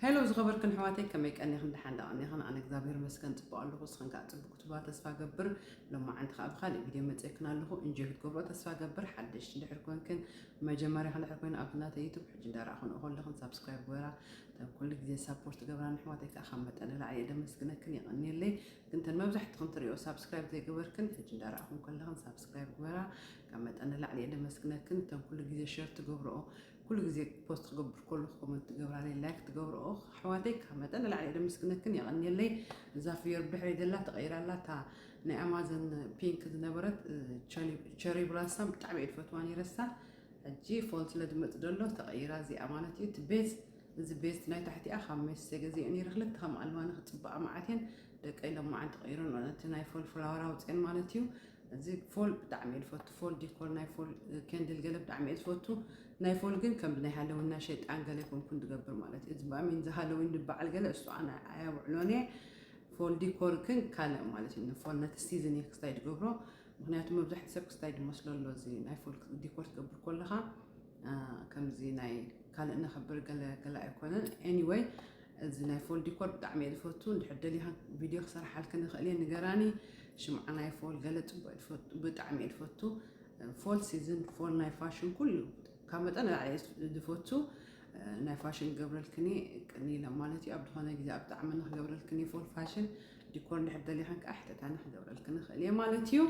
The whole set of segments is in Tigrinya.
Hello ዝኸበርክን ኣሕዋተይ ከመይ ቀኒኽን ደሓን ዶ ቀኒኽን ኣነ እግዚኣብሔር ይመስገን ጽቡቕ ኣለኹ ንስኽን ከኣ ጽቡቕ ክትብላ ተስፋ እገብር ሎማዓንቲ ከኣ ብኻልእ ቪድዮ መጺኤክን ኣለኹ እንጆይ ክትገብሮ ተስፋ እገብር ሓደሽቲ እንድሕር ኮንክን መጀመርያኺ እንድሕር ኮይኑ ኣብ ናተይ ዩቱብ ሕጂ እንዳረኣኹንኦ ከለኽን ሳብስክራይብ ግበራ እተን ኩሉ ግዜ ሳፖርት ገብራ ንኣሕዋተይ ከኣ ካብ መጠን ንላዕሊ እየ ደመስግነክን የቐንየለይ ግን ተን መብዛሕትኽን ትሪኦ ሳብስክራይብ ዘይገበርክን ሕጂ እንዳረኣኹን ከለኽን ሳብስክራይብ ግበራ ካብ መጠን ንላዕሊ እየ ደመስግነክን እተን ኩሉ ግዜ ሸር ትገብርኦ ኩሉ ግዜ ፖስት ክገብር ከለኩ ኮመንት ትገብራለይ ላይክ ትገብርኦ ኣሕዋተይ ካብ መጠን ንላዕሊ ደምስግነክን የቀንየለይ እዛ ፍዮር ብድሕረይ ዘላ ተቀይራ ኣላ እታ ናይ ኣማዘን ፒንክ ዝነበረት ቸሪ ብላሳም ብጣዕሚ እየ ዝፈትዋ ነይረሳ ሕጂ ፎል ስለ ዝመፅ ደሎ ተቀይራ እዚኣ ማለት እዩ እቲ ቤዝ እዚ ቤዝት ናይ ታሕቲኣ ካብ ሜሴ ገዜ ነይረ ክልተ ከም ኣለዋ ንክፅባኣ መዓት እየን ደቀ ኢሎም መዓን ተቐይረን እቲ ናይ ፎል ፍላወር ኣውፅኤን ማለት እዩ እዚ ፎል ብጣዕሚ እየ ዝፈቱ ፎል ዲኮር ናይ ፎል ከንድል ገለ ብጣዕሚ እየ ዝፈቱ ናይ ፎል ግን ከም ብናይ ሃለዊን ናይ ሸይጣን ገለ ኮንኩን ዝገብር ማለት እዩ እዚ ብኣሚን እዚ ሃለዊን ዝበዓል ገለ እሱ ኣነ ኣየውዕሎን እየ ፎል ዲኮር ግን ካልእ ማለት እዩ ንፎል ነቲ ሲዝን እየ ክስታይ ዝገብሮ ምክንያቱ መብዛሕቲ ሰብ ክስታይ ዝመስሎ ኣሎ እዚ ናይ ፎል ዲኮር ትገብር ከለካ ከምዚ ናይ ካልእ ነኽብር ገለ ገለ ኣይኮነን ኤኒወይ እዚ ናይ ፎል ዲኮር ብጣዕሚ እየ ዝፈቱ እንድሕር ደሊኻ ቪድዮ ክሰርሓልክን ይኽእል እየ ንገራኒ ሽምዓ ናይ ፎል ገለ ፅቡቅ ብጣዕሚ እየ ዝፈቱ ፎል ሲዝን ፎል ናይ ፋሽን ኩሉ ካብ መጠን ላዕሊ ዝፈቱ ናይ ፋሽን ገብረልክኒ ቅኒ ኢለ ማለት እዩ ኣብ ዝኾነ ግዜ ኣብ ጣዕሚ ንክገብረልክኒ ፎል ፋሽን ዲኮር እንድሕር ደሊኸን ከዓ ሕተታኒ ክገብረልክኒ ክእል እየ ማለት እዩ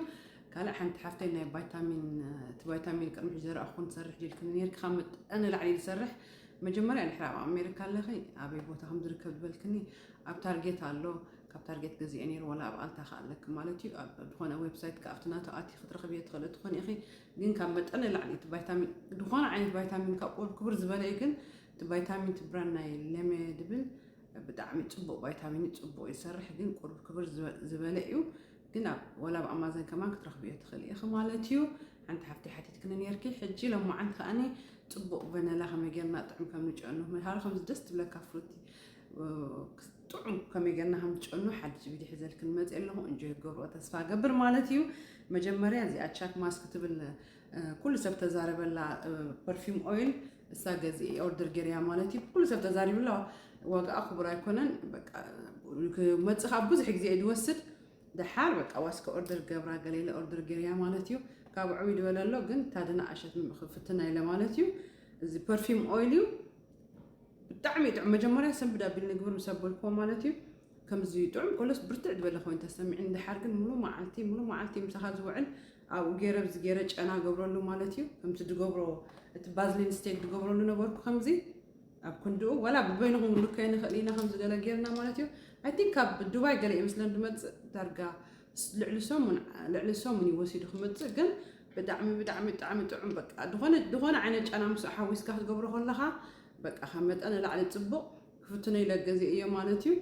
ካልእ ሓንቲ ሓፍተይ ናይ ቫይታሚን እቲ ቫይታሚን ቅድሚ ሕጂ ዘረኣ ክኾን ትሰርሕ ዲልክኒ ነርኪ ካብ መጠን ንላዕሊ ዝሰርሕ መጀመርያ ድሕሪ ኣብ ኣሜሪካ ኣለኺ ኣበይ ቦታ ከም ዝርከብ ዝበልክኒ ኣብ ታርጌት ኣሎ ካብ ታርጌት ገዚኤ ነይሩ ዋላ ኣብ ኣልታ ከ ኣለኪ ማለት እዩ ዝኾነ ዌብሳይት ከ ኣብቲ ናቱ ኣቲ ክትረኽብዮ ትኽእሊ ትኾኒ ኢኺ ግን ካብ መጠን ንላዕሊ እቲ ቫይታሚን ዝኾነ ዓይነት ቫይታሚን ካብ ቁር ክብር ዝበለ እዩ ግን እቲ ቫይታሚን እቲ ብራን ናይ ለመ ድብል ብጣዕሚ ፅቡቅ ቫይታሚን እዩ ፅቡቅ ይሰርሕ ግን ቁርብ ክብር ዝበለ እዩ ግን ኣብ ወላ ኣብ ኣማዘን ከማን ክትረኽብዮ ትኽእሊ ኢኺ ማለት እዩ። ሓንቲ ሓፍተይ ሓቲትክኒ ኔርኪ ሕጂ ሎማዓንቲ ከኣኒ ጽቡቕ ቨነላ ከመይ ጌርና ጥዑም ከም ንጨኑ ምሃር ከምዚ ደስ ትብለካ ፍሩቲ ጥዑም ከመይ ጌርና ከም ትጨኑ ሓድሽ ቪድዮ ሒዘልክን መጽእ ኣለኹ እንጆይ ክትገብርኦ ተስፋ ገብር ማለት እዩ። መጀመርያ እዚኣ ቻክ ማስክ ትብል ኩሉ ሰብ ተዛረበላ ፐርፊም ኦይል እሳ ገዚ ኦርደር ገርያ ማለት እዩ ኩሉ ሰብ ተዛሪብላ ዋጋኣ ክቡር ኣይኮነን መፅ ካብ ብዙሕ ግዜ ድወስድ ደሓር በቃ ዋስከ ኦርደር ገብራ ገሌለ ኦርደር ገርያ ማለት እዩ ካብ ዕብይ ድበለ ኣሎ ግን ታድና ኣሸት ክፍትና ኢለ ማለት እዩ እዚ ፐርፊም ኦይል እዩ ብጣዕሚ ጥዑም መጀመርያ ሰንብድ ኣቢል ንግብር ምስ ኣበልክዎ ማለት እዩ ከምዚ ጥዑም ቆሎስ ብርትዕ ዝበለ ኮይኑ ተሰሚዑኒ ደሓር ግን ሙሉእ መዓልቲ ሙሉእ መዓልቲ ምሳኻ ዝውዕል ኣብኡ ገይረ ብዚ ገይረ ጨና ገብረሉ ማለት እዩ ከምቲ ድገብሮ እቲ ባዝሊን ስቴክ ድገብረሉ ነበርኩ ከምዚ ኣብ ክንድኡ ዋላ ብበይንኹም ክንልከዮ ንኽእል ኢና ከምዚ ገለ ጌርና ማለት እዩ ኣይ ቲንክ ካብ ዱባይ ገለ ይመስለን ድመፅእ ዳርጋ ልዕሊ ሰሙን ልዕሊ ሰሙን እዩ ወሲዱ ክመፅእ ግን ብጣዕሚ ብጣዕሚ ብጣዕሚ ጥዑም በቃ ዝኾነ ዝኾነ ዓይነት ጨና ምስ ሓዊስካ ክትገብሮ ከለኻ በቃ ካብ መጠን ንላዕሊ ፅቡቕ ክፍትኖ ኢለ ገዚኤዮ ማለት እዩ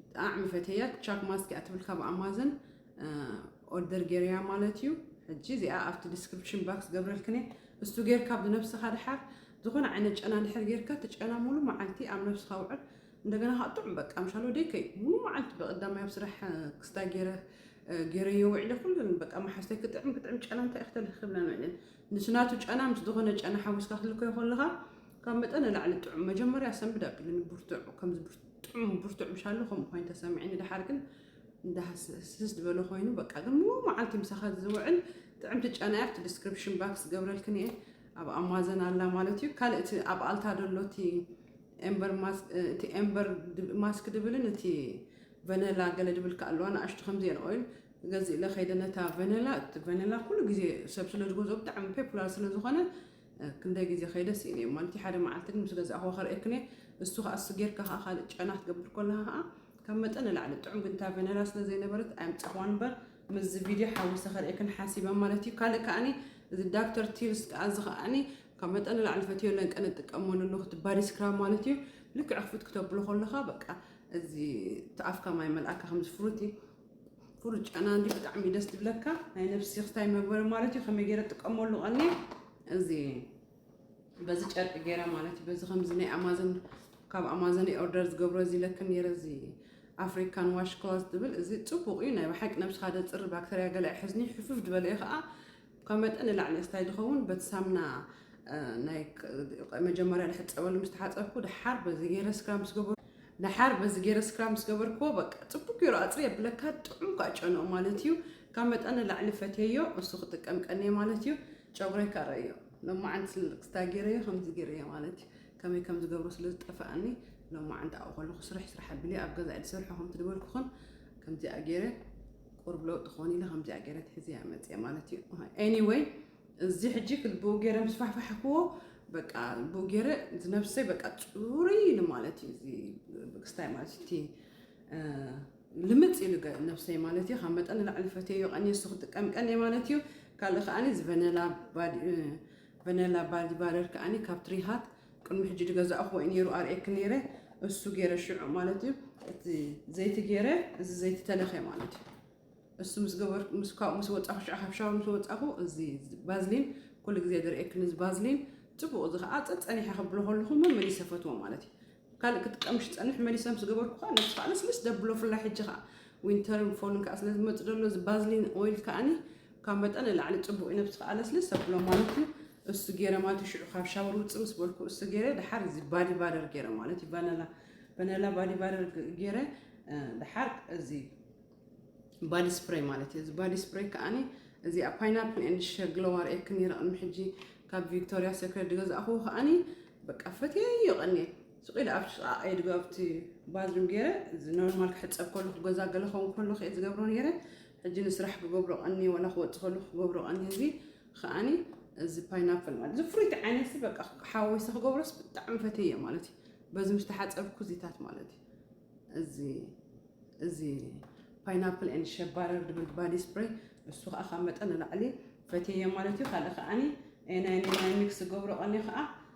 ብጣዕሚ ፈቴያ ቻክ ማስክ እያ ትብል ካብ ኣማዘን ኦርደር ጌርያ ማለት እዩ ሕጂ እዚኣ ኣብቲ ዲስክሪፕሽን ባክስ ገብረልክኔ እስቱ ጌርካ ብነብስኻ ድሓር ዝኾነ ዓይነት ጨና ድሕር ጌርካ እቲ ጨና ሙሉ መዓልቲ ኣብ ነብስኻ ውዕል እንደገና ከዓ ጥዑም በቃ ምሻሎ ደይከይ ሙሉ መዓልቲ በቀዳማይ ኣብ ስራሕ ክስታይ ጌረ ገይረዮ ውዒለ ኩለን በቃ መሓዝተይ ክጥዕም ክጥዕም ጨና እንታይ ክተልክ ክብለን ውዒለን ምስ ናቱ ጨና ምስ ዝኾነ ጨና ሓዊስካ ክትልከዮ ከለኻ ካብ መጠን ንላዕሊ ጥዑም መጀመርያ ሰንብድ ኣቢሉኒ ብርቱዕ ከምዚ ጥዑም ብርቱዕ ምሻሉ ከምኡ ኮይኑ ተሰሚዕኒ ድሓር ግን እንዳስስ ዝበለ ኮይኑ በቃ ግን ሙሉ መዓልቲ ምሳኻ ዝውዕል ጥዕምቲ ጨና እያ ኣብቲ ዲስክሪፕሽን ባክስ ገብረልክን እየ ኣብ ኣማዘን ኣላ ማለት እዩ ካልእ እቲ ኣብ ኣልታ ደሎ እቲ ኤምበር ማስ- እ፣ እቲ ኤምበር ድብ- ማስክ ድብልን እቲ ቨነላ ገለ ድብል ከ ኣለዋ ንኣሽቱ ከምዚኤን ኦይል ገዚእለ ከይደ ነታ ቨነላ እቲ ቨነላ ኩሉ ግዜ ሰብ ስለ ዝገዝኦ ብጣዕሚ ፔፑላር ስለ ዝኾነ ክንደይ ግዜ ከይደ ስኢነዮ ማለት ሓደ መዓልቲ ግን ምስ ገዛእኹ ከርእየክን እየ እሱ ከዓ እሱ ጌርካ ከዓ ካልእ ጨና ክትገብር ከለካ ከዓ ካብ መጠን ንላዕሊ ጥዑም ግን እታ ቨነላ ስለ ዘይነበረት ኣየምፃእኹዋን እምበር ምስዚ ቪድዮ ሓዊሰ ከርእየክን ሓሲበ ማለት እዩ ካልእ ከዓኒ እዚ ዳክተር ቲልስ ከዓ እዚ ከዓኒ ካብ መጠን ንላዕሊ ፈትዮ ለንቀን እጥቀመሉ ኣለኹ እቲ ባዲ ስክራብ ማለት እዩ ልክዕ ክፍት ክተብሎ ከለካ በቃ እዚ ተኣፍካ ማይ መልኣካ ከምዚ ፍሩቲ ፍሩጫና እንዲ ብጣዕሚ እዩ ደስ ዝብለካ ናይ ነብሲ ክስታይ መግበሪ ማለት እዩ ከመይ ገይረ ጥቀመሉ ቀኒ እዚ በዚ ጨርቂ ገይረ ማለት እዩ በዚ ከምዚ ናይ ኣማዞን ካብ ኣማዞን ኦርደር ዝገብሮ እዚ ለክ ነይረ እዚ ኣፍሪካን ዋሽ ክሎዝ ዝብል እዚ ፅቡቅ እዩ ናይ ብሓቂ ነብስካ ደፅሪ ባክተርያ ገለ ኣይሕዝኒ ሕፍፍ ዝበለ እዩ ከዓ ካብ መጠን ንላዕሊ እስታይ ዝኸውን በቲ ሳምና ናይ መጀመርያ ዝሕፀበሉ ምስ ተሓፀብኩ ደሓር በዚ ገይረ ስክራ ምስ ገበርኩ ደሓር በዚ ገይረ ስክራ ምስ ገበርኩዎ በቃ ፅቡቅ ገይሩ ኣፅሪ የብለካ ጥዑም ከዓ ጨንኡ ማለት እዩ ካብ መጠን ንላዕሊ ፈትየዮ እሱ ክጥቀም ቀንየ ማለት እዩ ጨጉረይ ከዓ ረእዮ ሎማዓንቲ ስልክስታ ገይረዮ ከምዚ ገይረዮ ማለት እዩ ከመይ ከም ዝገብሮ ስለ ዝጠፈኣኒ ሎማዓንቲ ኣብኡ ከለኩ ስርሕ ስራሕ ኣቢለ ኣብ ገዛኢ ዝሰርሖ ከምቲ ዝበልኩኹን ከምዚኣ ገይረ ቁሩብ ለውጢ ክኾን ኢለ ከምዚኣ ገይረ ትሕዝያ መፅየ ማለት እዩ ኤኒወይ እዚ ሕጂ ብኡ ገይረ ምስ ፋሕፋሕክዎ በቃ ብኡ ገይረ ዝነብሰይ በቃ ፅሩይ ኢሉ ማለት እዩ እዚ ክስታይ ማለት እቲ ልምፅ ኢሉ ነብሰይ ማለት እዩ ካብ መጠን ንላዕሊ ፈትየዮ ቀኒ እሱ ክጥቀም ቀኒ ማለት እዩ ካልእ ከዓኒ እዚ ቨነላ ባዲ ባረር ከዓኒ ካብ ትሪሃት ቅድሚ ሕጂ ድገዛእክዎ እዩ ነይሩ ኣርእየኪ ነይረ እሱ ገይረ ሽዑ ማለት እዩ እቲ ዘይቲ ገይረ እዚ ዘይቲ ተለኸ ማለት እዩ እሱ ምስ ገበር ምስ ካብኡ ምስ ወጻኹ ሽዑ ካብ ሻወር ምስ ወጻኹ እዚ ባዝሊን ኩሉ ግዜ ድርእየኪ ንዚ ባዝሊን ጽቡቕ እዚ ከዓ ጸጸኒሐ ከብሎ ከለኹ መመሊሰ ፈትዎ ማለት እዩ ካልእ ክትቀምሽ ፀንሕ መሊሰ ምስ ገበርኩ ከዓ ነብሲ ከዓ ልስልስ ደብሎ ፍላይ ሕጂ ከዓ ዊንተርን ፎልን ከዓ ስለ ዝመፅ ደሎ እዚ ባዝሊን ኦይል ከዓኒ ካብ መጠን ንላዕሊ ፅቡቅ እዩ ነብስካ ኣለስልስ ኣብሎ ማለት እዩ እሱ ገይረ ማለት እዩ ሽዑ ካብ ሻወር ውፅእ ምስ በልኩ እሱ ገይረ ድሓር እዚ ባዲ ባደር ገይረ ማለት እዩ ቫነላ ቫነላ ባዲ ባደር ገይረ ድሓር እዚ ባዲ ስፕሬይ ማለት እዩ እዚ ባዲ ስፕሬይ ከዓኒ እዚኣ ፓይናፕል ኤንድ ሸግለዋር እየ ክኒረ ቅድሚ ሕጂ ካብ ቪክቶሪያ ሴክሬት ዝገዛእኹ ከዓኒ በቃ ፈትየዮ ቀኒየ ስቅ ኢለ ኣብቲ ጥቃ ኢድ ኣብቲ ባዝሩም ገይረ ኖርማል ክሕጸብ ከለኩ ገዛ ገለ ከውን ከለኩ እየ ዝገብሮ ነይረ ሕጂ ንስራሕ ክገብሮ ቀንየ ዋላ ክወጽእ ከለኩ ክገብሮ ቀንየ እዚ ከዓኒ እዚ ፓይናፕል ማለት እዚ ፍሩይቲ ዓይነት በቃ ሓወሰ ክገብሮስ ብጣዕሚ ፈትየ ማለት እዩ በዚ ምስ ተሓፀብኩ እዚታት ማለት እዩ እዚ እዚ ፓይናፕል ን ሸባረር ድብል ባዲ ስፕሬይ እሱ ከዓ ካብ መጠን ንላዕሊ ፈትየ ማለት እዩ ካልእ ከዓኒ ናይ ናይ ሚክስ ዝገብሮ ቀኒ ከዓ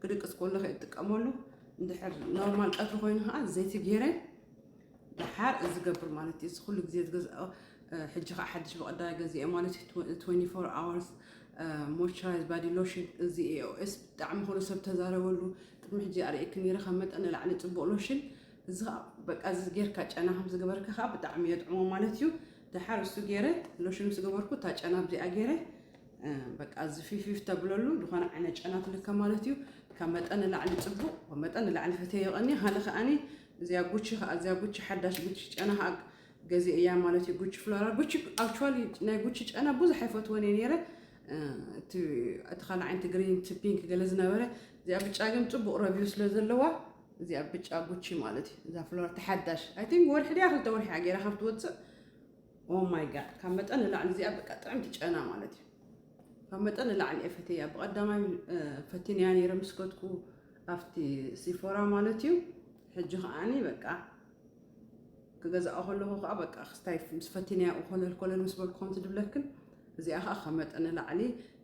ክድቅስ ከሎ ከ እጥቀመሉ እንድሕር ኖርማል ቀትሪ ኮይኑ ከዓ ዘይቲ ገይረ ድሓር እዚ ገብር ማለት እዩ ኩሉ ግዜ ዝገዝኦ ሕጂ ከዓ ሓድሽ ብቐዳይ ገዚኦ ማለት እዩ 24 ኣወርስ ሞይስቸራይዝ ባዲ ሎሽን እዚ ኤኦኤስ ብጣዕሚ ኩሉ ሰብ ተዛረበሉ ቅድሚ ሕጂ ኣርእየኪ ነይረ ካብ መጠን ንላዕሊ ፅቡቅ ሎሽን እዚ ከዓ በቃ እዚ ጌርካ ጨና ከም ዝገበርካ ከዓ ብጣዕሚ የጥዕሞ ማለት እዩ ድሓር እሱ ገይረ ሎሽን ምስ ገበርኩ እታ ጨና ብዚኣ ገይረ በቃ እዚ ፊፊፍ ተብለሉ ዝኾነ ዓይነት ጨና ትልከ ማለት እዩ ካብ መጠን ንላዕሊ ፅቡቕ ካብ መጠን ንላዕሊ ፈተዮ ይቐኒ ሃለ ከዓኒ እዚኣ ጉቺ ከዓ እዚኣ ጉቺ ሓዳሽ ጉቺ ጨና ከዓ ገዜ እያ ማለት እዩ ጉቺ ፍሎራ ጉቺ ኣክቹዋሊ ናይ ጉቺ ጨና ብዙሕ ኣይፈትወን እየ ነይረ እቲ ካልእ ዓይነት ግሪን እቲ ፒንክ ገለ ዝነበረ እዚኣ ብጫ ግን ፅቡቕ ረቪው ስለ ዘለዋ እዚኣ ብጫ ጉቺ ማለት እዩ እዛ ፍሎራ ተሓዳሽ ኣይ ቲንክ ወርሒ ድያ ክልተ ወርሒ ገይራ ካብ ትወፅእ ኦ ማይ ጋድ ካብ መጠን ንላዕሊ እዚኣ በቃ ጥዕምቲ ጨና ማለት እዩ ካብ መጠን ንላዕሊ እየ ፈተያ ብቐዳማይ ፈቲንያ ነይረ ምስ ከድኩ ኣብቲ ሲፎራ ማለት እዩ ሕጂ ከዓኒ በቃ ክገዛኦ ከለኹ ከዓ በቃ ክስታይ ምስ ፈቲንያ ኮለል ኮለል ምስ በልኩ ከምቲ ድብለክን እዚኣ ከዓ ካብ መጠን ንላዕሊ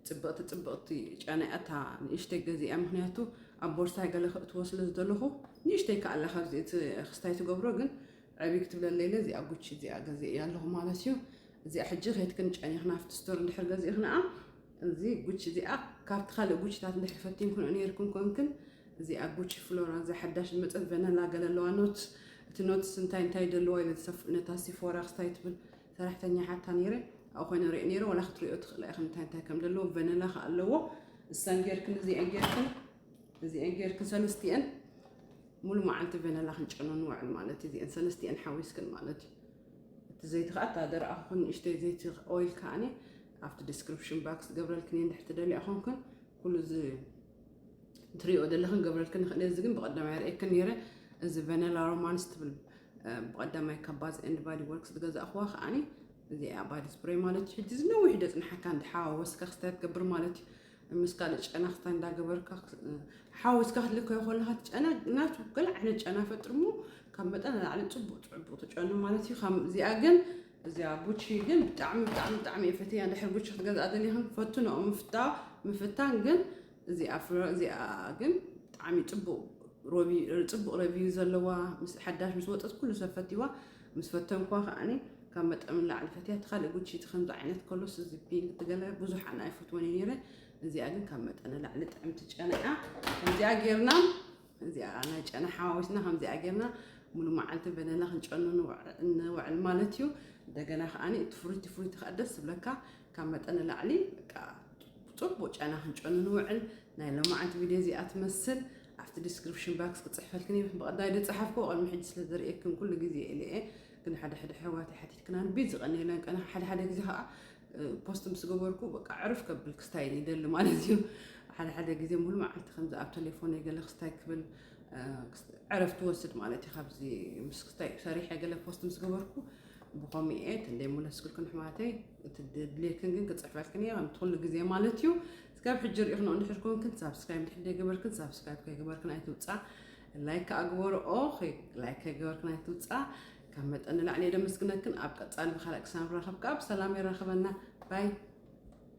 ፅብቕቲ ፅብቕቲ ጨና እያ እታ ንእሽተይ ገዚኣ ምክንያቱ ኣብ ቦርሳይ ገለ ከእትዎ ስለ ዝደለኹ ንእሽተይ ከኣላ ካብዚ እቲ ክስታይ ትገብሮ ግን ዕብይ ክትብለለይ ኢለ እዚኣ ጉቺ እዚኣ ገዚኤያ ኣለኹ ማለት እዩ እዚኣ ሕጂ ከይትክን ጨኒኽና ኣብቲ ስቶር እንድሕር ገዚእኽናኣ እዚ ጉቺ እዚኣ ካብቲ ካልእ ጉቺታት እንድሕር ፈቲንክንኦ ነይርክን ኮንክን እዚኣ ጉቺ ፍሎራ እዛ ሓዳሽ ዝመፀት ቨነላ ገለ ኣለዋ ኖትስ እቲ ኖትስ እንታይ እንታይ ደለዋ ኢለ ነታ ሲፎራ ክስታይ ትብል ሰራሕተኛ ሓታ ነይረ ኣብኡ ኮይነ ሪኦ ነይረ ዋላ ክትሪኦ ትኽእላ ኢኽን እንታይ እንታይ ከም ደለዎ ቨነላ ከ ኣለዎ እሳን ጌርክን እዚኣን ጌርክን እዚኤን ጌርክን ሰለስቲኤን ሙሉ መዓልቲ ቨነላ ክንጨኖ ንውዕል ማለት እዩ እዚኤን ሰለስቲኤን ሓዊስክን ማለት እዩ እቲ ዘይቲ ከዓ እታ ደረኣኹን ንእሽተይ ዘይቲ ኦይል ከዓኒ ኣብቲ ዲስክሪፕሽን ባክስ ገብረልክን እየ እንድሕቲ ደልያ ኮንክን ኩሉ እዚ ትሪኦ ዘለኽን ገብረልክን ንኽእል እዚ ግን ብቐዳማይ ርእየክን ነይረ እዚ ቨነላ ሮማንስ ትብል ብቐዳማይ ካብ ባዝ ኤንድ ባዲ ወርክስ ዝገዛእኽዋ ከዓኒ እዚኣ ባዲ ስፕሬይ ማለት እዩ ሕጂ ዝነዊሕ ደፅንሓካ እንተሓዋወስካ ክስታይ ትገብር ማለት እዩ ምስ ካልእ ጨናፍታ እንዳገበርካ ሓዊስካ ክትልከዮ ከለካ እቲ ጨና ናቱ ገለ ዓይነት ጨና ፈጥሩ እሞ ካብ መጠን ንላዕሊ ፅቡቅ ፅቡቅ ትጨኑ ማለት እዩ ከም እዚኣ ግን እዚኣ ቡቺ ግን ብጣዕሚ ብጣዕሚ ብጣዕሚ እየ ፈትያ ድሕር ቡቺ ክትገዝኣ ደሊኽን ፈትኖኦ ምፍታ ምፍታን ግን እዚኣ ፍረ እዚኣ ግን ብጣዕሚ ፅቡቅ ፅቡቅ ረቪው ዘለዋ ምስ ሓዳሽ ምስ ወፀት ኩሉ ሰብ ፈትዋ ምስ ፈተንኳ ከዓኒ ካብ መጠን ንላዕሊ ፈትያ እቲ ካልእ ጉቺ እቲ ከምዚ ዓይነት ከሎስ እዚ ፒንክ እቲ ገለ ብዙሕ ኣነ ኣይፈትዎን እዩ ነይረ እዚኣ ግን ካብ መጠን ንላዕሊ ጥዕምቲ ጨና እያ ከምዚኣ ጌርና እዚኣ ናይ ጨና ሓዋዊስና ከምዚኣ ጌርና ሙሉ መዓልቲ በነና ክንጨኑ ንውዕል ማለት እዩ እንደገና ከዓኒ እቲ ፍሩይቲ ፍሩይቲ ከዓ ደስ ዝብለካ ካብ መጠን ንላዕሊ በቃ ፅቡቅ ጨና ክንጨኑ ንውዕል ናይ ሎማዓንቲ ቪድዮ እዚኣ ትመስል ኣብቲ ዲስክሪፕሽን ባክስ ክፅሕፈልክን እዩ ብቀዳይ ዝፀሓፍኩ ቅድሚ ሕጂ ስለ ዝርእየክን ኩሉ ግዜ ኢለ እየ ግን ሓደ ሕደ ኣሕዋተይ ሓቲትክና ንቤት ዝቀንየለን ቀን ሓደ ሓደ ግዜ ከዓ ፖስት ምስ ገበርኩ በቃ ዕርፍ ከብል ክስታይ ይደሊ ማለት እዩ ሓደ ሓደ ግዜ ሙሉ መዓልቲ ከምዚ ኣብ ቴሌፎን ገለ ክስታይ ክብል ዕረፍ ትወስድ ማለት እዩ ካብዚ ምስ ክስታይ ሰሪሐ ገለ ፖስት ምስ ገበርኩ ብኸምኡ እየ ክንደይ ሙለስክልክን ሕማተይ እቲ ድሌክን ግን ክፅሕፈልክን እየ ከምቲ ኩሉ ግዜ ማለት እዩ እስካብ ሕጂ ሪኢኽን እንድሕር ኮንክን ሳብስክራይብ እንድሕር ዘይገበርክን ሳብስክራይብ ከይገበርክን ኣይትውፃእ ላይክ ከኣ ግበሩ ኦኬ ላይክ ከይገበርክን ኣይትውጻ ካብ መጠን ንላዕሊ እየ ደመስግነክን ኣብ ቀጻሊ ብካልእ ክሳብ ንራኸብ ከኣ ብሰላም የራኽበና ባይ